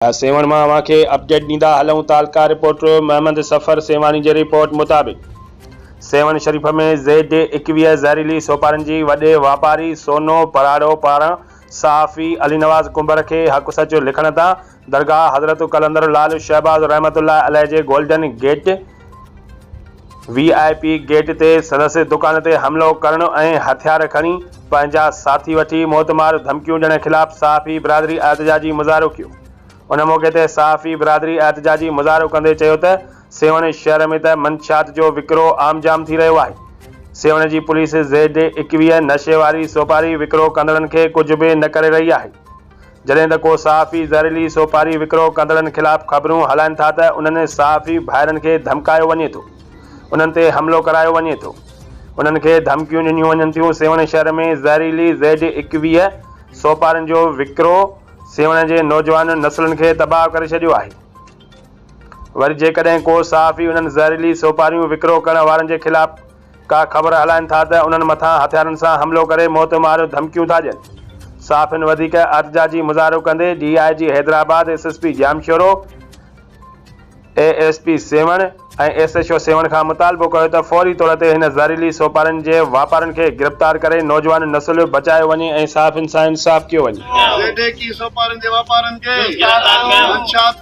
سيوهڻ مان اوهان کي اپڊيٽ ڏيندا هلون ته القا رپورٽر محمد سفر سيوهاڻي جي رپورٽ مطابق سيوهڻ شريف ۾ زيڊ ايڪويهه زهريلي سوپارن جي وڏي واپاري سونو پراڙو پاران صحافي علي نواز ڪنڀر کي حق سچ لکڻ تان درگاهه حضرت قلندر لعل شهباز رحمت الله عليه جي golden gate V I P gate تي سندس دڪان تي حملو ڪرڻ ۽ هٿيار کڻي پنهنجا ساٿي وٺي موتمار ڌمڪيون ڏيڻ خلاف صحافي برادري احتجاجي مظاهرو ڪيو ان موقعي تي صحافي برادري احتجاجي مظاهرو ڪندي چيو ته سيوهڻ شهر ۾ ته منشيات جو وڪرو عام جام ٿي رهيو آهي سيوهڻ جي پوليس زيڊ ايڪويهه نشي واري سوپاري وڪرو ڪندڙن کي ڪجهه به نه ڪري رهي آهي جڏهن ته ڪو صحافي زهريلي سوپاري وڪرو ڪندڙن خلاف خبرون هلائين ٿا ته انهن صحافي ڀائرن کي ڌمڪايو وڃي ٿو، انهن تي حملو ڪرايو وڃي ٿو، انهن کي ڌمڪيون ڏنيون وڃن ٿيون، سيوهڻ شهر ۾ زهريلي زيڊ ايڪويهه سوپارن جو وڪرو سيوهڻ جي نوجوان نسلن کي تباهه ڪري ڇڏيو آهي، وري جيڪڏهن ڪو صحافي انهن زهريلي سوپاريون وڪرو ڪرڻ وارن جي خلاف ڪا خبر هلائن ٿا ته انهن مٿان هٿيارن سان حملو ڪري موت ماريو ڌمڪيون ٿا ڏين. صحافين وڌيڪ احتجاجي مظاهرو ڪندي D I G Hyderabad, S S P Jamshoro, A S P Sehwan ۽ S H O Sehwan کان مطالبو ڪيو ته فوري طور تي هن زهريلي سوپارن جي واپارن کي گرفتار ڪري نوجوان نسل بچايو وڃي ۽ صحافين سان انصاف ڪيو وڃي. زهريلي سوپارن جي واپارن کي منشيات